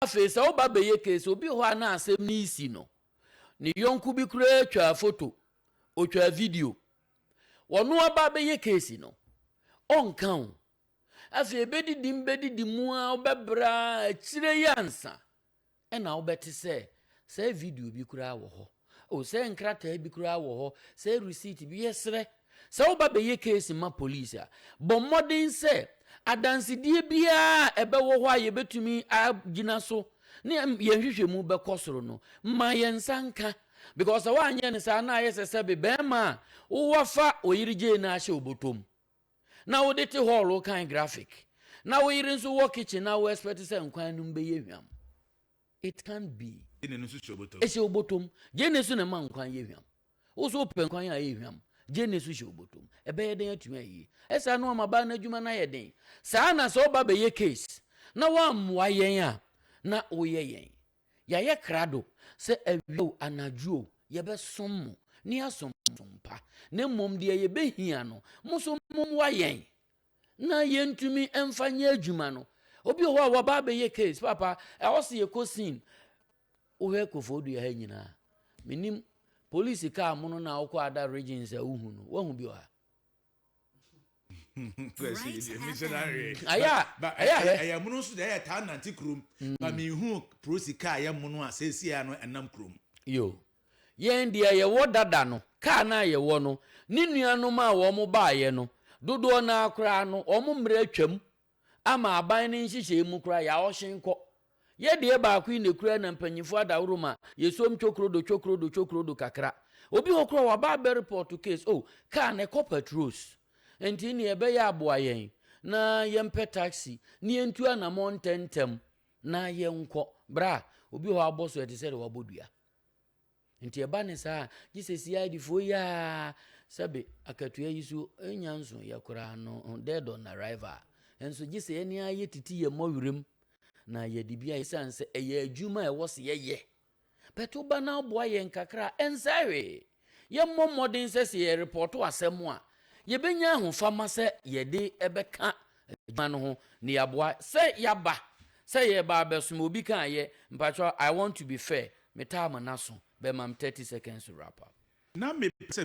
Afei sɛ woba bɛyɛ case, obi hɔ a na asɛm no resi no, ne yɔnko bi koraa twaa foto, ɔtwaa video. Ɔno aba abɛyɛ case no, ɔnka wo. Afei ɛbɛdidi mu bɛdidi mu a wobɛbrɛ a akyire yi ansa ɛna wobɛte sɛ saa video bi koraa wɔ hɔ. Oh, sɛ nkrataa bi koraa wɔ hɔ, sɛ receipt bi, yɛsrɛ. Sɛ woba bɛyɛ case ma police a, bɔ mmɔden sɛ adansedie biara a ɛbɛwɔ hɔ a yɛbɛtumi agyina so ne yɛn nhwehwɛmu bɛkɔ soro no, ma yɛn nsa nka. Because sɛ woanyɛ no saa na ayɛ sɛ sɛbe barima a woafa ɔyere gyee no ahyɛ ɔbɔtɔm na wode te hall wokan graphic na wo yere nso wɔ kitchen na wo expect sɛ nkwan no bɛyɛ hwam. It can't be. Gyene no so hyɛ obotom. Ɛhyɛ obotom. Gyene so na ɛma nkwan yɛ hwam. Wo so wopɛ nkwan a ɛyɛ hwam. Gyene so hyɛ obotom. Ɛbɛyɛ dɛn atumi ayɛ yie? Ɛsaa no ama baa no adwuma no ayɛ den. Saa na sɛ woba bɛyɛ case na woammoa yɛn a, na woyɛ yɛn. Yɛayɛ krado sɛ awia o, anadwo o, yɛbɛsom mo, ne yɛasom mo som pa. Na mmom deɛ yɛbɛhia no, mo nso mommoa yɛn. na yɛntumi mfa nyɛ adwuma no obi wɔ hɔ a wɔba abɛyɛ case papa ɛwɔ sɛ yɛkɔ scene wohwɛ kofo dua ha nyinaa menim polisi kaa mono no a wokɔ ada regions a wohu no woahu bi wɔ ha ɛyɛ mono nso deɛ ɛyɛ taa nante kurom ba mehu prosi kaa yɛ mono a sɛsi a no ɛnam kurom yo Yɛn deɛ yɛwɔ dada no, kaa no a yɛwɔ no, ne nuanom a wɔbaeɛ no, dodoɔ no ara koraa no, wɔn mmerɛ atwam ama aban no nhyehyɛe mu koraa, yɛaɔhyen kɔ. Yɛ deɛ baako yi na ɛkura na mpanyimfoɔ adaworo ma yɛsom cwokrodo cwokrodo cwokrodo kakra. Obi hɔ koraa waba abɛrepɔɔto case, oh, kaa no ɛkɔ patrols. Nti nea ɛbɛyɛ a boa yɛn na yɛmpɛ taxi na yɛntu anamɔn ntɛmntɛm na yɛnkɔ. Bra, obi hɔ abɔ so ɛte sɛ deɛ wabɔ dua. Nti ɛba ne saa a, gye sɛ CIDfoɔ yi ara sɛbe akatua yi so nya nso yɛ koraa no dead on arrival. Nso gye sɛ yɛne ara yɛ titi yɛ mmɔ werɛm na yɛde bi ayɛ sane sɛ ɛyɛ adwuma a ɛwɔ sɛ yɛyɛ. Bɛto ba na aboa yɛn kakra ɛnsɛ hwee. Yɛmmɔ mmɔden sɛ sɛ yɛrepɔɔto asɛm a, yebenya ahofama sɛ yɛde bɛka adwuma no ho na yɛaboa. Sɛ yɛaba sɛ yɛreba abɛsom obi ka a, yɛ, Mpakyɛw, I want to be fair, metaa mo n'aso, bɛmam thirty seconds to wrap up. Ná mepɛ sɛ